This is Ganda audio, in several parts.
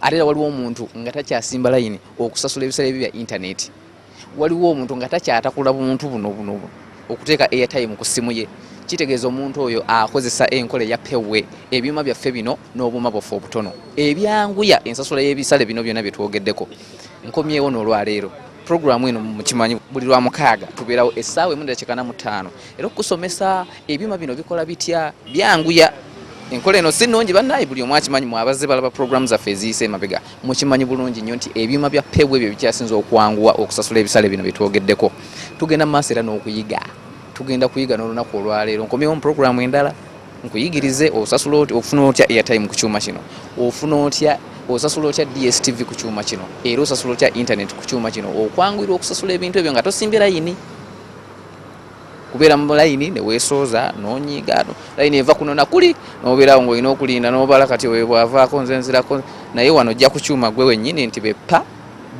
ate era waliwo omuntu nga takyasimba layini okusasula ebiseera ebyo bya intaneti waliwo omuntu nga takyatakula buntu buno buno okuteeka airtime ku ssimu ye kitegeeza omuntu oyo akozesa enkola eya pewe ebyuma byaffe bino n'obuuma bwaffe obutono ebyanguya ensasula y'ebisale bino byonna bye twogeddeko nkomyewo n'olwaleero puroguramu eno mukimanyi buli lwa mukaaga tubeerawo essaawa emu ddakiikana mu ttaano era okusomesa Ebyuma bino bikola bitya? Byanguya enkola eno si nnungi bannaayi, buli omu akimanyi. Mwabazze balaba pulogulaamu zaffe eziyise emabega, mukimanyi bulungi nnyo nti ebyuma bya pebu ebyo bikyasinze okwanguwa okusasula ebisale bino bye twogeddeko. Tugenda mu maaso era n'okuyiga, tugenda kuyiga n'olunaku olwaleero. Nkomyewo mu pulogulaamu endala nkuyigirize osasula otya, ofuna otya airtime ku kyuma kino, ofuna otya osasula otya DSTV ku kyuma kino era osasula otya internet ku kyuma kino okwanguyirwa okusasula ebintu ebyo nga tosimbye layini. kubeera mu layini ne weesooza n'onyiiga no layini eva kuno na kuli n'obeerawo ng'olina okulinda n'obala kati oyo bw'avaako nze nzirako naye wano ojja ku kyuma gwe wennyini nti beppa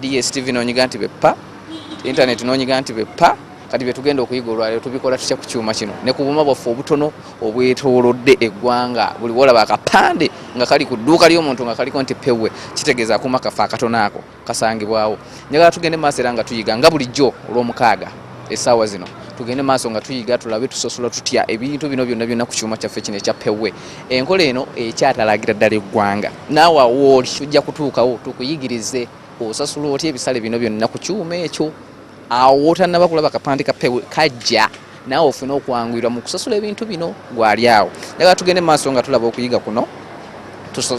dstv n'onyiga nti beppa intaneti n'onyiga nti beppa kati byetugenda okuyiga olwaliro tubikola tutya ku kyuma kino ne ku buma bwaffe obutono obwetoolodde eggwanga buli wolaba akapande nga kali ku dduuka ly'omuntu nga kaliko nti pewe kitegeeza akuma kaffe akatono ako kasangibwawo njagala tugende maaso era nga tuyiga nga bulijjo olw'omukaaga essaawa zino tugende maaso nga tuyiga tulabe tusosola tutya ebintu bino byonna byonna ku kyuma kyaffe kino ekya pewe enkola eno ekyatalagira ddala eggwanga naawe awooli ojja kutuukawo tukuyigirize osasula otya ebisale bino byonna ku kyuma ekyo awo wotannaba kulaba kapande ka pewe kajja naawe ofune okwanguyirwa mu kusasula ebintu bino gwali awo njagala tugende mu maaso nga tulaba okuyiga kuno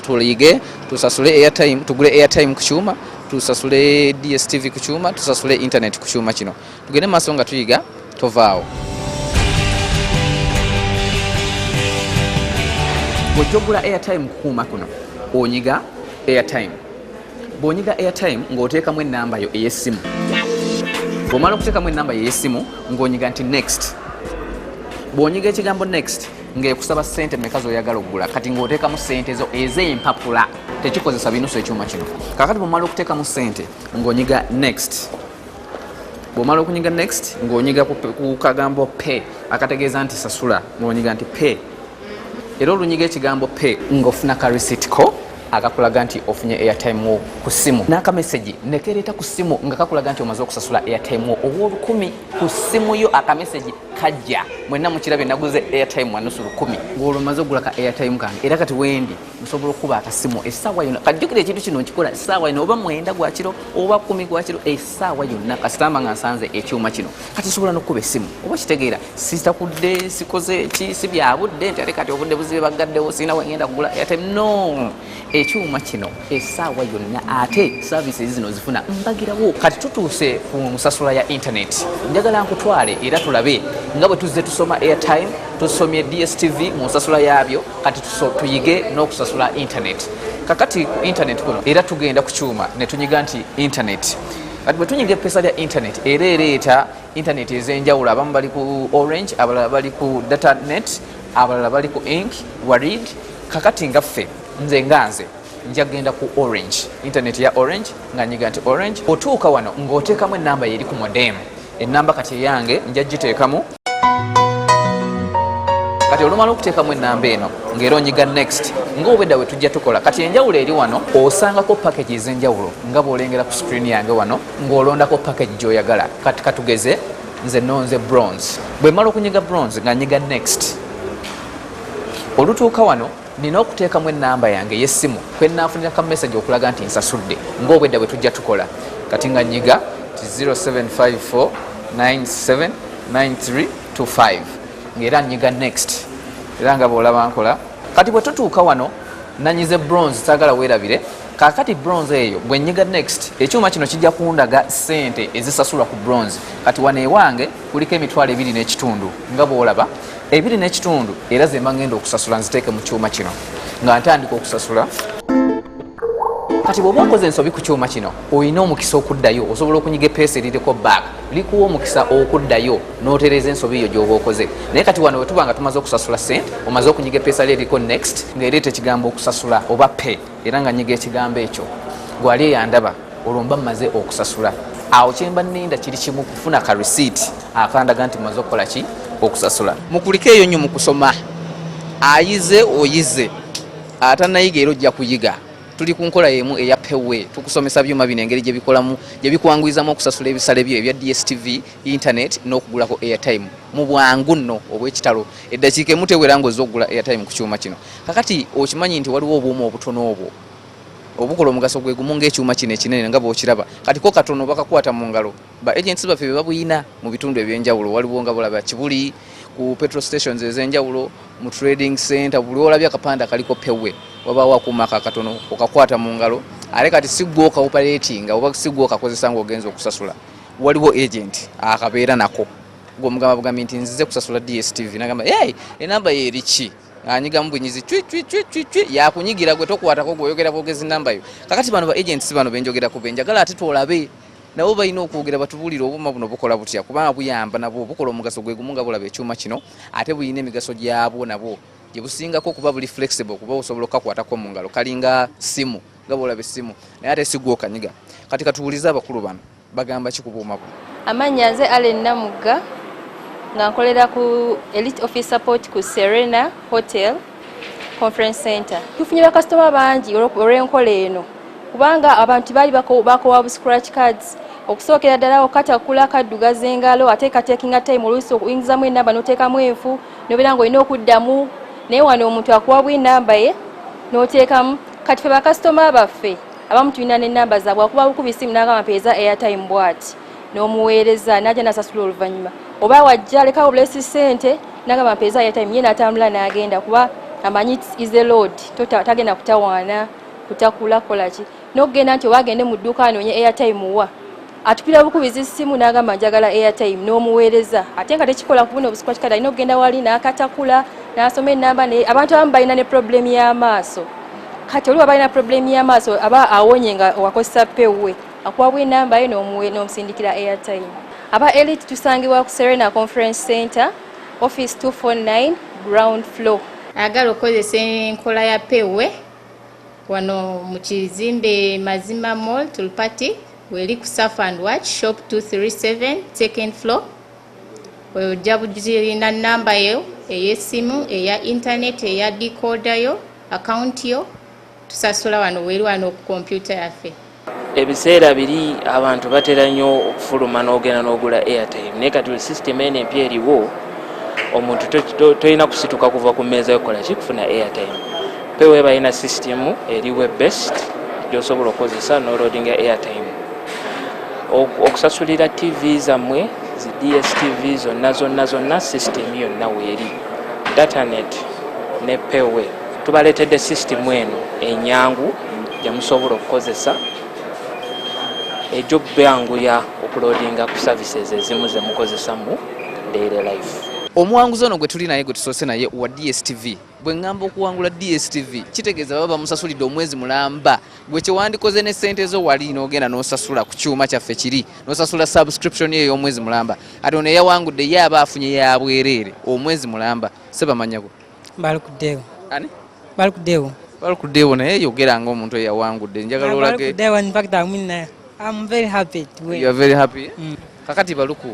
tuyige tusasule airtime tugule airtime ku kyuma tusasule dstv ku kyuma tusasule internet ku kyuma kino tugende mu maaso nga tuyiga tovaawo bwojja okugula airtime kukuuma kuno onyiga airtime bw'onyiga airtime ng'oteekamu ennamba yo ey'essimu bw'omala okuteekamu ennamba yo ey'essimu ng'onyiga nti next bw'onyiga ekigambo next ng'ekusaba ssente meka z'oyagala okugula kati ng'oteekamu ssente zo ez'empapula tekikozesa binusu ekyuma kino kakati bw'omala okuteekamu ssente ng'onyiga next bw'omala okunyiga next ng'onyiga ku kagambo pay akategeeza nti sasula ng'onyiga nti pay era olunyiga ekigambo pay ng'ofuna ka receipt ko akakulaga nti ofunye airtime wo ku ssimu n'akamesegi nekereeta ku ssimu nga kakulaga nti omaze okusasula airtime wo ow'olukumi ku ssimu yo akamesegi kajja mwenna mukirabye naguze airtime wanusu lukumi ng'olwo maze okugula ka airtime kange era kati wendi nsobola okukuba akasimu essaawa yona kajjukira ekintu kino nkikola essaawa yona oba mwenda gwakiro oba kumi gwakiro essaawa yonna kasitamba nga nsanze ekyuma kino kati nsobola n'okukuba essimu oba kitegeera sitakudde sikoze ki si bya budde nti ate kati obudde buzibe baggaddewo sirina wengenda kugula ate no ekyuma kino esaawa yonna ate service zino zifuna mbagirawo kati tutuuse ku nsasula ya internet njagala nkutwale era tulabe nga bwe tuzze tusoma airtime tusomye dstv mu nsasula yaabyo kati tuyige n'okusasula internet kakati ku internet kuno era tugenda ku kyuma ne tunyiga nti internet kati bwe tunyiga epesa lya internet era ereeta internet ezenjawulo abamu bali ku orange abalala bali ku data net abalala bali ku ink warid kakati nga ffe nze nga nze njagenda ku orange internet ya orange nga nyiga nti orange otuuka wano ng'oteekamu enamba yeri ku modem enamba kati eyange nja giteekamu kati olumala okuteekamu enamba eno ngaera onyiga next ngaobwedda wetujja tukola kati enjawulo eri wano osangako package ezenjawulo nga bwolengera ku screen yange wano ng'olondako package gy'oyagala kati katugeze nze nonze bronze bwe mala okunyiga bronze nga nyiga next olutuuka wano nina okuteekamu enamba yange ey'essimu kwe naafunira ka message okulaga nti nsasudde ng'obwedda bwe tujja tukola kati nga nyiga ti 0754979325 ng'era nyiga next era nga bw'olaba nkola kati bwe tutuuka wano nanyize bronze saagala weerabire kakati bronze eyo bwenyiga next ekyuma kino kijja kundaga sente ezisasulwa ku bronze kati wano ewange kuliko emitwalo ebiri n'ekitundu nga bwolaba ebiri n'ekitundu era zemba ngenda okusasula nziteeke mu kyuma kino nga ntandika okusasula kati bwoba okoze ensobi ku kyuma kino olina omukisa okuddayo osobola okunyiga epeesa eririko back likuwa omukisa okuddayo notereeza ensobi eyo gyoba okoze naye kati wano wetuba nga tumaze okusasula sente omaze okunyiga epeesa lyo eriko next ngaereeta ekigambo okusasula oba pay era nga nyiga ekigambo ekyo gwali eyandaba olwo mba mmaze okusasula awo kyemba ninda kiri kimu kufuna ka receipt akandaga nti maze okukola ki okusasula mukulika eyo nyo mukusoma ayize oyize atanayiga era ojja kuyiga tuli ku nkola yemu eya pewe tukusomesa byuma bino engeri gyebikolamu gyebikwanguyizamu okusasula ebisale byo ebya dstv internet n'okugulako airtime mu bwangu nno obwekitalo eddakiika emutewera ngaoza okugula airtime ku kyuma kino kakati okimanyi nti waliwo obuuma obutono obwo obukola omugaso gwe gumu ng'ekyuma kino ekinene nga bw'okiraba kati ko katono bakakwata mu ngalo ba agents baffe be babuyina mu bitundu eby'enjawulo waliwo nga bulaba kibuli ku petrol stations ez'enjawulo mu trading center buli olabye akapande akaliko pewe wabaawo akuuma ako akatono okakwata mu ngalo ate kati si gwe okaoperatinga oba si gwe okakozesa nga ogenza okusasula waliwo agent akabeera nako gweomugamba bugambi nti nzize kusasula dstv nagamba enamba yeeriki anyiga mubunyizi cwi cwi cwi cwi cwi yakunyigira gwe tokwatako gwe oyogera bwogezi namba yo kakati bano ba agents bano benjogera ku benjagala ate tolabe nabo balina okwogera batubulire obuma buno bukola butya kubanga buyamba nabo bukola omugaso gwe gumu nga bulaba ekyuma kino ate bulina emigaso gyabwo nabo gye busingako kuba buli flexible kuba osobola okukakwatako mu ngalo kalinga simu nga bwolaba essimu naye ate sigwa okanyiga kati katuwulize abakulu bano Bagamba ki ku buuma buno? Amannya nze Allen Namugga nga nkolera ku Elite Office Support ku Serena Hotel Conference Center. Tufunye bakasitoma bangi olw'enkola eno kubanga abantu baali bakowa bu scratch cards okusookera ddala okatakula kaddugaza engalo ate katekinga time oluusi okuyingizamu enamba n'oteekamu enfu nobeera nga olina okuddamu naye wano omuntu akuwa bwinamba ye n'oteekamu kati fe bakasitoma baffe abamu tulina ne namba zaabwe akuba bukuba isimu n'agamba mpeeza airtime bwati n'omuweereza n'ajja n'asasula oluvannyuma oba wajja alekawo obulesi ssente n'agamba mpeeza airtime ye n'atambula n'agenda kuba amanyi is a load tagenda kutawaana kutakula kukola ki n'okugenda nti oba agende mu dduuka anoonye airtime wa atukira bukubizi ssimu n'agamba njagala airtime n'omuweereza ate nga tekikola kubuna obusiku kikati alina okugenda wali n'akatakula n'asoma ennamba naye abantu abamu balina ne problemu y'amaaso kati oliwa balina problemu y'amaaso aba awonye nga wakozesa pewwe akuwabwa enamba ye n'omusindikira airtime aba elite tusangibwa ku serena conference center office 249 ground floor agala okukozesa enkola ya pewwe wano mu kizimbe mazima mall tulpati Weli ku Surf and Watch shop 237 second floor ojja bugirina namba yo ey'essimu eya intaneti eya dikooda yo akawunti yo tusasula wano weri wano ku kompyuta yaffe ebiseera biri abantu batera nnyo okufuluma n'ogenda n'ogula airtime naye kati system eno empya eriwo omuntu tolina kusituka kuva ku mmeeza yokukola ki kufuna airtime Pewe balina system eri web based gyosobola okukozesa noloadinga airtime okusasulira tv zammwe zi dstv zonna zonna zonna system yonna weeri datanet ne pewe tubaleetedde system eno enyangu gyemusobola okukozesa egyobbanguya okuloadinga ku services ezimu zemukozesa mu daily life omuwanguzi ono gwe tuli naye gwe tusoose naye wa dstv Bwe ŋŋamba okuwangula DSTV kitegeeza baba bamusasulidde omwezi mulamba. Gwe kye wandikoze ne ssente zo wali n'ogenda n'osasula ku kyuma kyaffe kiri n'osasula subscription ye ey'omwezi mulamba. Ate ono eyawangudde ye aba afunye ya bwereere omwezi mulamba. Sebamanyako. Balukuddeewo. Ani? Balukuddeewo. Balukuddeewo naye yogera ng'omuntu eyawangudde. Njagala olage. Balukuddeewo in fact I'm in, uh, I'm very happy to win. You are very happy? Mm. Kakati Baluku.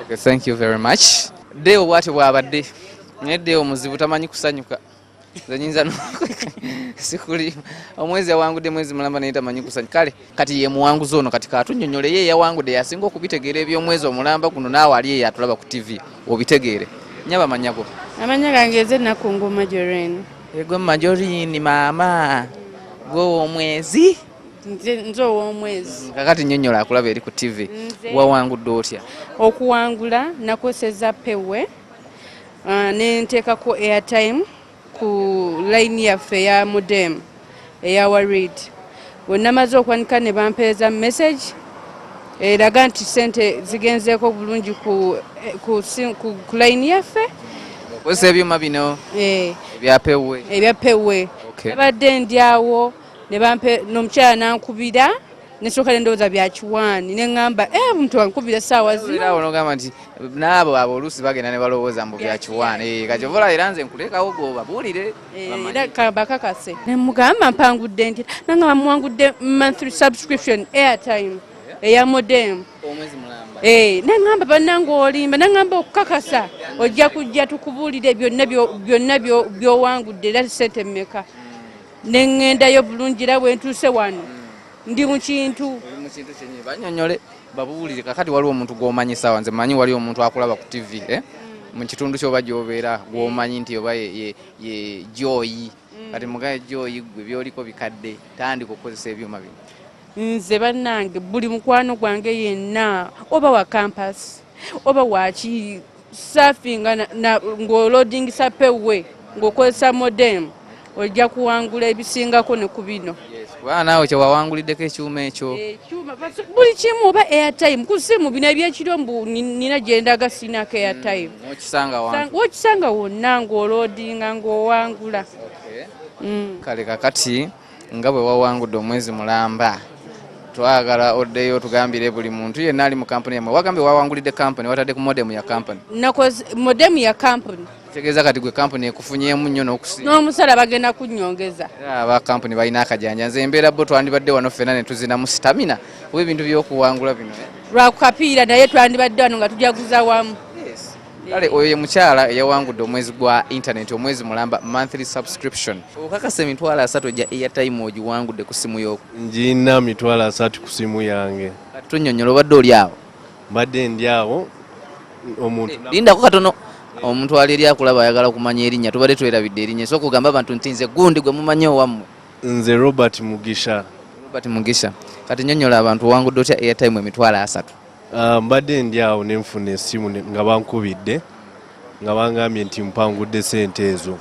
Okay, thank you very much. Deo bwatyo bwabadde naye Deo muzibu tamanyi kusanyuka nze nyinza sikuli omwezi yawangudde mwezi mulamba naye tamanyi kusanya kale kati ye muwanguzi ono kati katunyonyole ye yawangudde yasinga okubitegeera eby'omwezi omulamba guno naawe ali eyo atulaba ku tv obitegeere nyaba amanyago amanya gange eze nakungu majorin egwe majorini maama gwe omwezi nze ow'omwezi kakati nyonyola akulaba eri ku tv wawangudde otya okuwangula nakozeseza pewe uh, nenteekako airtime ku layini yaffe eya mudem eya warid wenamaze okwanika ne bampeereza message eraga eh, nti sente zigenzeeko bulungi ku layini yaffe okozesa ebyuma bino eh. ebyapewe ebyapewe abadde ndyawo ne bampe n'omukyala nankubira nesooka nendowooza byakiwaani neŋamba e eh, muntu ankubira essaawa zinonogamba nti naabo abo oluusi bagenda ne balowooza mbu byakiwaani eh, kati ovola era nze nkulekawo goba buulire eh, bakakase nemugamba mpangudde nti nanga bamuwangudde monthly subscription airtime eya modem neŋamba bananga olimba neŋamba okukakasa ojja kujja tukubuulire byonna byowangudde era sente mmeka ne ŋŋendayo bulungi era bwe ntuuse wano ndi mu kintu banyonyole babuulire kakati waliwo omuntu gw'omanyi saawa nze manyi waliwo omuntu akulaba ku tivi eh? mm. mu kitundu kyoba gyobeera gw'omanyi nti oba ye joyi mm. kati mugaye joyi gwe byoliko bikadde tandika okukozesa ebyuma bino nze bannange buli mukwano gwange yenna oba wa kampasi oba waki safinga ng'olodingisa pewe ng'okozesa modem ojja kuwangula ebisingako ne ku bino kubanga naawe kyewawanguliddeko ekyuma ekyo eh, buli kimu oba airtime ku simu bino ebyekiro mbu nina gyendaga sinako hmm, airtime wokisanga wonna ng'olodinga ng'owangula hmm. kale kakati nga bwe wawangudde omwezi mulamba twagala oddeyo tugambire buli muntu yenna ali mu kampuni yamwe wagambye wawangulidde kampuni watadde ku modemu ya kampuni modemu ya kampuni tegeeza kati gwe kampuni ekufunyemu nnyo n'omusala bagenda kunyongeza aba kampuni balina akajanja nze embeera bo twandibadde wano ffena ne tuzinamu sitamina kuba ebintu by'okuwangula bino eh? lwakukapiira naye twandibadde wano nga tujaguza wamu kale oyo ye mukyala eyawangudde omwezi gwa intaneti omwezi mulamba monthly subscription okakasa emitwalo asatu egya airtime ogiwangudde ku simu yoko ngiina mitwalo asatu ku simu yange tunyonyola obadde oli awo mbadde ndi awo omuntu eh, lindako katono omuntu ali eri akulaba ayagala kumanya erinnya tubadde twerabidde erinnya so okugamba abantu nti nze gundi gwe mumanyi owammwe nze robert mugisha robert mugisha kati nyonyola abantu owangudde otya airtime emitwalo asatu Ah, mbadde ndi awo ne nfuna essimu nga bankubidde nga bangambye nti mpangudde sente ezo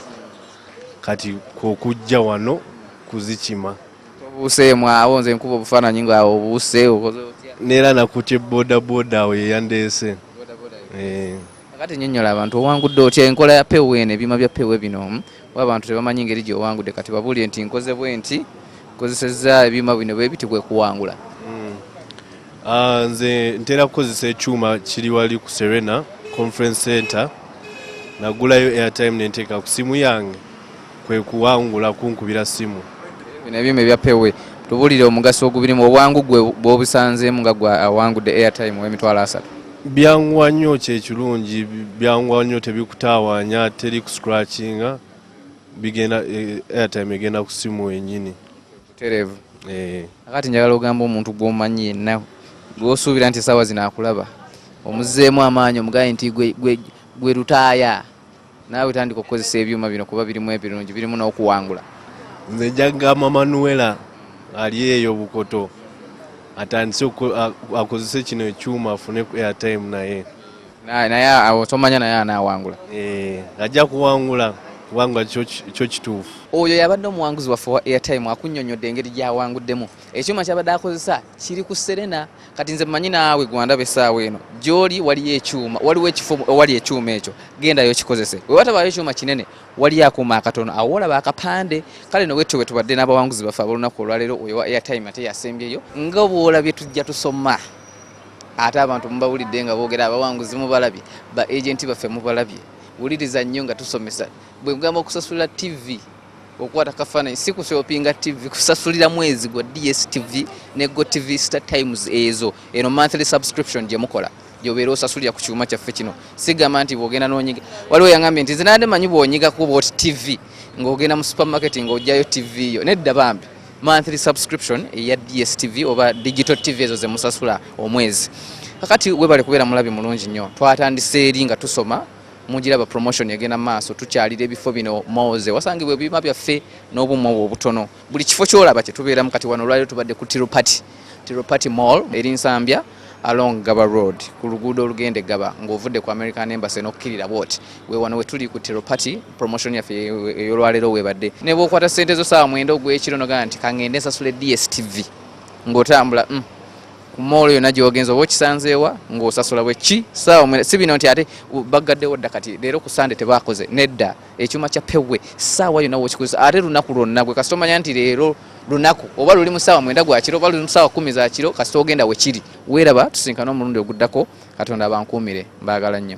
kati kwokujja wano kuzikima obuuseemu awo nze nkuba obufaananyi nga obuuse neera nakutye bodaboda awo yeyandeese Kakati nyonyola abantu owangudde otya enkola ya pewo eno ebyuma bya pewo bino hmm? oba abantu tebamanyi ngeri gyewangudde kati babuulire nti nkoze bwenti kozesezza ebyuma bino bwebiti kwekuwangula hmm. ah, nze ntera kukozesa ekyuma kiri wali ku serena conference center nagulayo airtime nenteeka ku simu yange kwe kuwangula kunkubira ssimu. Bino ebyuma ebya pewe tubulire omugaso ogubirimu obwangu gwe bwobusanzeemu nga gwe awangudde airtime w'emitwalo asatu byanguwa nnyo kyekirungi byanguwa nnyo tebikutaawanya teri ku scratchinga bigenda e, airtime egenda ku simu wenyini terevu eh. akati njagala ogamba omuntu gwomanyi yenna gwosuubira nti esaawa zino akulaba omuzzeemu amaanyi omugaye nti gwe lutaaya naawe tandika okukozesa ebyuma bino kuba birimu ebirungi birimu n'okuwangula nze njagamba manuela ali eyo bukoto atandise akozese kino ekyuma afune airtime naye naye awo tomanya naye anawangula eh, ajja kuwangula kubanga kyo kituufu oyo yabadde omuwanguzi waffe wa airtime akunyonyodde engeri gyawanguddemu ekyuma kyabadde akozesa kiri ku serena kati nze mmanyi naawe gwandaba essaawa eno gyoli waliyo ekyuma waliwo ekifo owali ekyuma ekyo gendayo kikozese wewatabayo ekyuma kinene waliyo akuuma akatono awo olaba akapande kale nowetyo wetubadde n'abawanguzi baffe abolunaku olwaleero oyo wa airtime ate yasembyeyo nga bwolabye tujja tusoma ate abantu mubawulidde nga boogera abawanguzi mubalabye ba agenti baffe mubalabye wuliriza nnyo nga tusomesa bwegamba okusasula ttivi okukwata kafaananyi si kusopinga tv kusasulira mwezi gwa dstv ne go tv star times ezo eno monthly subscription gye mukola gyobeera osasulira ku kyuma kyaffe kino sigamba nti bwogenda nonyiga waliwo yangambye nti zinade manyi bwonyiga kuba oti tv ng'ogenda mu supermarket ng'ojjayo tv yo nedda bambi monthly subscription eya dstv oba digital tv ezo zemusasula omwezi kakati webale kubeera mulabi mulungi nnyo twatandise eri nga tusoma mugiraba promotion egenda maaso tukyalira ebifo bino moze wasangibwa ebibiima byaffe n'obuuma obwo obutono buli kifo kyolaba kyetubeeramu kati wano olwaliro tubadde ku tiropati tiropati mall eri nsambya along gaba road ku luguudo olugenda egaba ng'ovudde ku american embassy n'okukkirira bwoti wewano wetuli ku tiropati promotion yaffe eyolwaleero webadde ne bwokwata ssente zo saawa mwenda ogw'ekiro nogaa nti kangende nsasule dstv ng'otambula mm. ku moolo yonna gyogenza oba okisanzeewa ng'osasula bwe ki saawa si bino nti ate baggaddewo dda kati leero ku sande tebaakoze nedda ekyuma kya pewe saawa yonna wokikozesa ate lunaku lwonna gwe kasita omanya nti leero lunaku oba luli mu saawa mwenda gwa kiro oba luli mu saawa kumi za kiro kasita ogenda we kiri weeraba tusinkana omulundi oguddako katonda abankuumire mbaagala nnyo